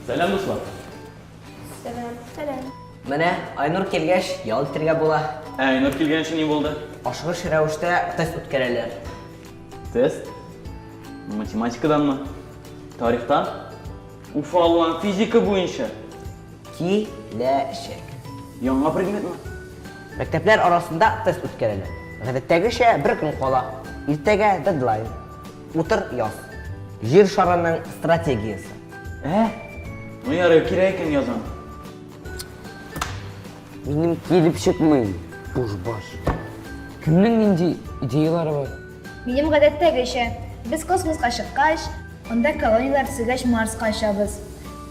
Сәлам, дуслар. Сәлам. Сәлам. Менә Айнур килгәч, ял итәргә була. Ә Айнур килгәнче ни булды? Ашыгыч рәвештә тест үткәрәләр. Тест? Математикаданмы? Тарихтан? Уфалла физика буенча. Киләчәк. Яңа предметмы? Мәктәпләр арасында тест үткәрелә. Гадәттәгечә бер көн кала. Иртәгә дедлайн. Утыр яз. Җир шарының стратегиясе. Ә? Ну ярый, кирәк икән язам. Минем килеп чыкмый бушбаш. Кемнең нинди идеялары бар? Минем гадәттәгечә, без космоска чыккач, анда колонияләр төзегәч Марска очабыз.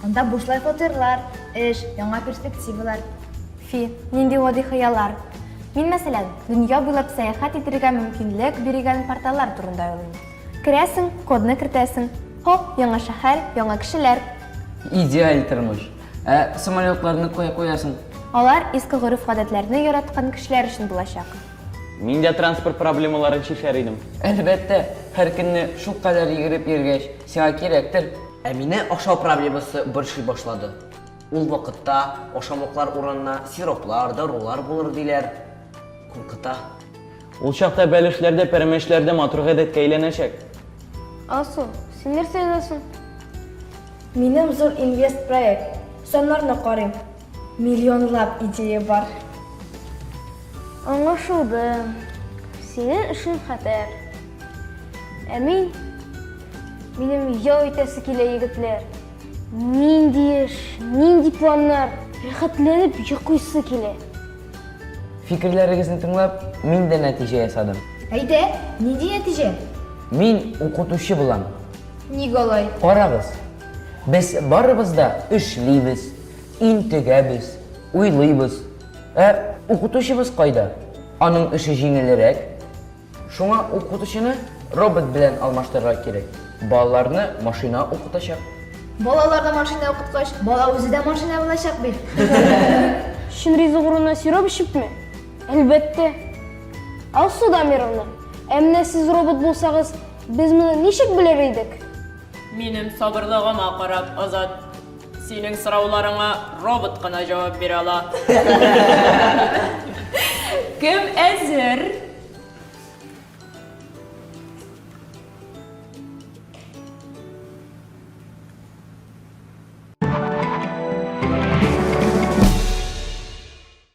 Анда бушлай фатирлар, эш, яңа перспективалар. Фи, нинди гади хыяллар. Мин, мәсәлән, дөнья буйлап сәяхәт итәргә мөмкинлек биргән порталлар турында уйлыйм. Керәсең, кодны кертәсең, һоп, яңа шәһәр, яңа кешеләр. Идеаль тормыш. Ә самолетларны кая куясың? Алар иске гореф-гадәтләрне яраткан кешеләр өчен булачак. Мин дә транспорт проблемаларын чишәр идем. Әлбәттә, һәр көнне шулкадәр йөгереп йөргәч, сиңа кирәктер. Ә мине ашау проблемасы борчый башлады. Ул вакытта ашамлыклар урынына сироплар, дарулар булыр диләр. Куркыта. Ул чакта бәлешләр дә, пәрәмәчләр дә матур гадәткә әйләнәчәк. Алсу, син нәрсә язасың? Минем зур инвест проект. Саннарны карыйм. Миллионлап идея бар. Аңлашылды. Синең эшең хәтәр. Ә мин, минем ял итәсе килә, егетләр. Нинди эш, нинди планнар, рәхәтләнеп йоклыйсы килә. Фикерләрегезне тыңлап, мин дә нәтиҗә ясадым. Әйдә, нинди нәтиҗә? Мин укытучы булам. Ник алай? Карагыз, без барыбыз да эшлибез, интегәбез, уйлыйбыз. Ә укытучыбыз кайда? Аның эше җиңелрәк, Шуңа укытучыны робот белән алмаштырырга кирәк. Балаларны машина укытачак. Балаларны машина укыткач, бала үзе дә машина булачак бит. Чын ризык урынына сироп эчепме? Әлбәттә. Алсу Дамировна, ә менә сез робот булсагыз, без моны ничек белер идек? Минем сабырлыгыма карап, Азат. Синең сорауларыңа робот кына җавап бирә ала. Кем әзер?